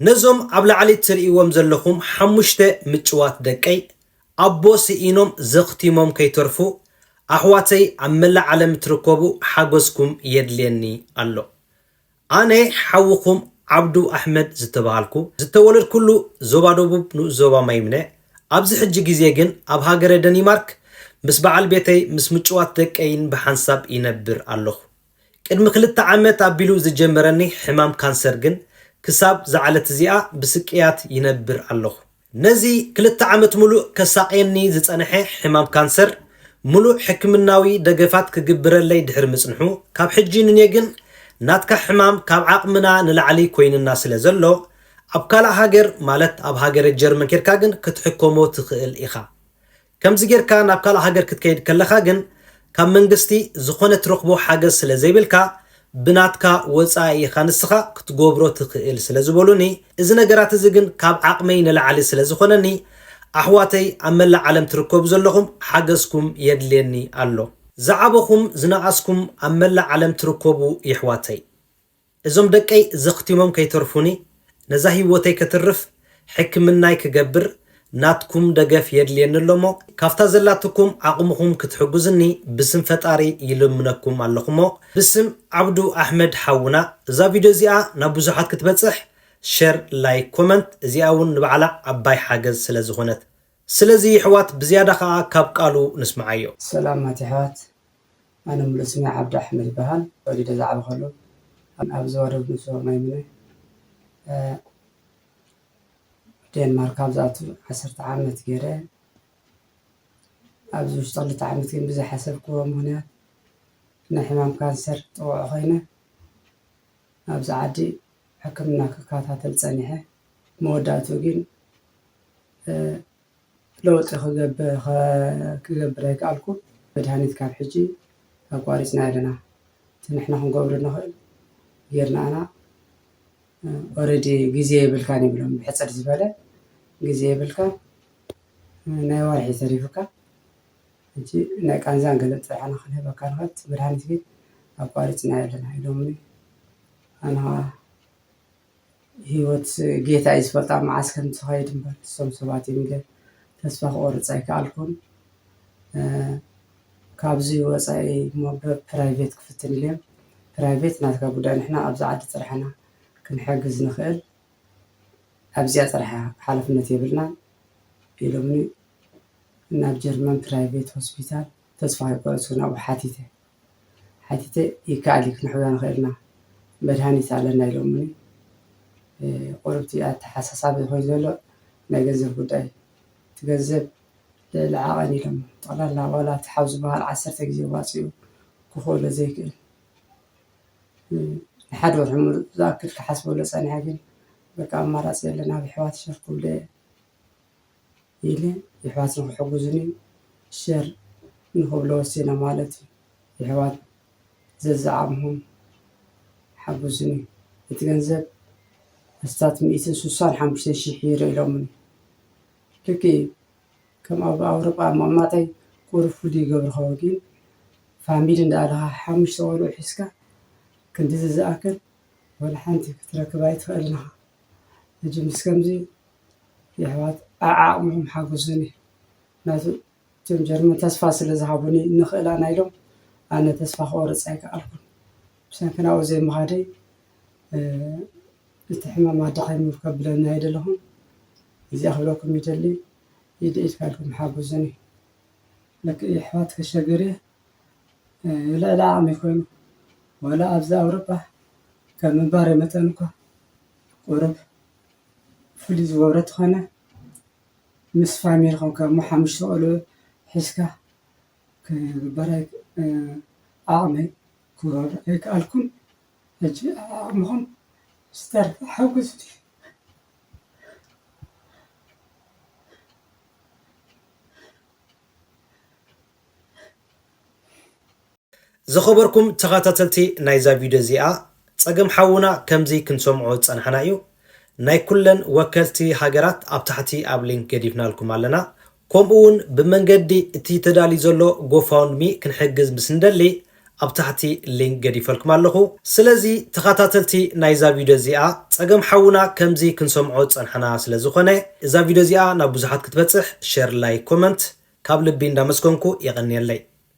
ነዞም ኣብ ላዕሊ ትርእይዎም ዘለኹም ሓሙሽተ ምጭዋት ደቀይ፣ ኣቦ ስኢኖም ዘኽቲሞም ከይተርፉ፣ ኣሕዋተይ ኣብ መላእ ዓለም እትርከቡ ሓገዝኩም የድልየኒ ኣሎ። ኣነ ሓውኹም ዓብዱ ኣሕመድ ዝተበሃልኩ፣ ዝተወለድኩሉ ዞባ ደቡብ ንኡስ ዞባ ማይምነ፣ ኣብዚ ሕጂ ግዜ ግን ኣብ ሃገረ ደኒማርክ ምስ በዓል ቤተይ ምስ ምጭዋት ደቀይን ብሓንሳብ ይነብር ኣለኹ። ቅድሚ ክልተ ዓመት ኣቢሉ ዝጀመረኒ ሕማም ካንሰር ግን ክሳብ ዝዓለት እዚኣ ብስቅያት ይነብር ኣለኹ። ነዚ ክልተ ዓመት ምሉእ ከሳቕየኒ ዝጸንሐ ሕማም ካንሰር ምሉእ ሕክምናዊ ደገፋት ክግብረለይ ድሕሪ ምጽንሑ ካብ ሕጂ ንኔ ግን ናትካ ሕማም ካብ ዓቕምና ንላዕሊ ኮይንና ስለ ዘሎ ኣብ ካልእ ሃገር ማለት ኣብ ሃገረ ጀርመን ኬድካ ግን ክትሕከሞ ትኽእል ኢኻ ከምዚ ጌርካ ናብ ካልእ ሃገር ክትከይድ ከለኻ ግን ካብ መንግስቲ ዝኾነ ትረኽቦ ሓገዝ ስለ ዘይብልካ ብናትካ ወጻኢ ኢኻ ንስኻ ክትጎብሮ ትኽእል ስለ ዝበሉኒ እዚ ነገራት እዚ ግን ካብ ዓቕመይ ንላዕሊ ስለ ዝኾነኒ ኣሕዋተይ ኣብ መላእ ዓለም ትርከቡ ዘለኹም ሓገዝኩም የድልየኒ ኣሎ ዝዓበኹም ዝነኣስኩም ኣብ መላእ ዓለም ትርከቡ የሕዋተይ እዞም ደቀይ ዘኽቲሞም ከይተርፉኒ ነዛ ሂወተይ ከትርፍ ሕክምናይ ክገብር ናትኩም ደገፍ የድልየኒ ኣሎሞ ካብታ ዘላትኩም ዓቅምኹም ክትሕጉዝኒ ብስም ፈጣሪ ይልምነኩም ኣለኹሞ ብስም ዓብዱ ኣሕመድ ሓውና እዛ ቪድዮ እዚኣ ናብ ብዙሓት ክትበጽሕ ሸር ላይክ ኮመንት እዚኣ ውን ንባዕላ ዓባይ ሓገዝ ስለዝኾነት ስለዚ ይሕዋት ብዝያዳ ኻኣ ካብ ቃሉ ንስምዓዮ። ሰላማት የሕዋት ኣነ ሙሉእ ስመይ ዓብዱ ኣሕመድ ይበሃል ተወሊደ ዝዓበኸሉ ኣብ ዞባ ደቡብ ምብራቕ ማይ ምነ ዴንማርክ ካብ ዝኣቱ ዓሰርተ ዓመት ገይረ ኣብዚ ውሽጢ ክልተ ዓመት ግን ብዝሓሰብክዎ ምክንያት ንሕማም ካንሰር ጥቑዕ ኮይነ ኣብዚ ዓዲ ሕክምና ክከታተል ፀኒሐ መወዳእትኡ ግን ለውጢ ክገብር ኣይከኣልኩን። መድሃኒት ካብ ሕጂ ኣቋሪጽናዮ ኣለና። እቲ ንሕና ክንገብሮ እንኽእል ጌርና ኢና። ኦረዲ ግዜ የብልካን ይብሎም ብሕጽር ዝበለ ግዜ የብልካን ናይ ወርሒ እዩ ተሪፉካ። ሕጂ ናይ ቃንዛን ገለን ጥራሕ ኢና ክንህበካ ንኽእል እቲ መድሃኒት ግን ኣቋሪጽናዮ ኣለና ኢሎምኒ ኣነ ኸኣ ህይወት ጌታ እዩ ዝፈልጣ መዓስ ከም ትኸይድ እምበር እሶም ሰባት እዮም ግን ተስፋ ክቆርፅ ኣይከኣልኩን ካብዚ ወፃኢ እሞ ብፕራይቬት ክፍትን ኢለ ፕራይቬት ናትካ ጉዳይ ንሕና ኣብዚ ዓዲ ጥራሕ ኢና ክንሕግዝ ንኽእል ኣብዚኣ ጥራሕ እያ ሓላፍነት የብልናን ኢሎምኒ ናብ ጀርመን ፕራይቬት ሆስፒታል ተስፋ ከይቆረፅኩ ናብኡ ሓቲተ። ሓቲተ ይከኣል እዩ ክንሕውያ ንኽእል ኢና መድሃኒት ኣለና ኢሎሙኒ ቁሩብ እቲ ኣተሓሳሳቢ ኮይኑ ዘሎ ናይ ገንዘብ ጉዳይ እዩ እቲ ገንዘብ ልዕሊ ዓቐን ኢሎሞ ጠቕላላ ዋላ እቲ ሓው ዝበሃል ዓሰርተ ግዜ ዋፂኡ ክኽእሎ ዘይክእል ንሓደ ወርሒ ሙሉእ ዝኣክል ክሓስበሉ ፀኒሐ ግን በቃ ኣማራፂ የለን ኣብ የሕዋተይ ሸር ክብሎ እየ። ኢለ የሕዋት ንኽሕጉዙኒ ሸር ንኽብሎ ወሲነ ማለት እዩ የሕዋት ዘዝዓቅምኹም ሓጉዙኒ እቲ ገንዘብ ኣስታት ሚእትን ስሳን ሓሙሽተን ሽሕ ዩሮ ኢሎሙኒ ልክዕ እዩ ከም ኣብ ኣውሮጳ ምቅማጠይ ቁሩብ ፍሉይ ይገብሮ ይኸውን ግን ፋሚሊ እንዳኣለኻ ሓሙሽተ ቆልዑ ሒዝካ ክንድዚ ዝኣክል ወላ ሓንቲ ክትረክብ ኣይትኽእልን ኢኻ። መቸምስ ከምዚ የሕዋት ኣብ ዓቅምኹም ሓጉሱኒ ምክንያቱ እቶም ጀርመን ተስፋ ስለ ዝሃቡኒ ንኽእል ኣና ኢሎም ኣነ ተስፋ ክቆርጽ ኣይከኣልኩን ብሰንኪ ናብኡ ዘይምኻደይ እቲ ሕማም ኣዳኺሙ ከብለኒ ኣይደለኹን እዚኣ ክብለኩም ይደሊ ኢድ ኢድካ ኢልኩም ሓጉሱኒ ለክእ የሕዋት ከሸግር እየ። ልዕሊ ዓቕሚ ኮይኑ ዋላ ኣብዚ ኣውሮፓ ከም ምንባረ መጠን እኳ ቁሩብ ፍልይ ዝበለ እንተኾነ ምስ ፋሚሊ ኾንካ እሞ ሓሙሽተ ቆልዑ ሒዝካ ክግበር ዓቕመይ ክገብሮ ኣይከኣልኩን። ሕጂ ዓቕምኹም ዝተርፈ ሓግዙኒ። ዝኸበርኩም ተኻታተልቲ ናይዛ ቪድዮ እዚኣ ጸገም ሓውና ከምዚ ክንሰምዖ ዝጸናሕና እዩ ናይ ኩለን ወከልቲ ሃገራት ኣብ ታሕቲ ኣብ ሊንክ ገዲፍናልኩም ኣለና ኮምኡ ውን ብመንገዲ እቲ ተዳልዩ ዘሎ Gofundme ክንሕግዝ ምስ እንደሊ ኣብ ታሕቲ ሊንክ ገዲፈልኩም ኣለኹ ስለዚ ተኻታተልቲ ናይዛ ቪድዮ እዚኣ ጸገም ሓውና ከምዚ ክንሰምዖ ዝጸንሓና ስለ ዝኾነ እዛ ቪድዮ እዚኣ ናብ ብዙሓት ክትበጽሕ ሸር ላይክ ኮመንት ካብ ልቢ እንዳመስገንኩ የቐንየለይ።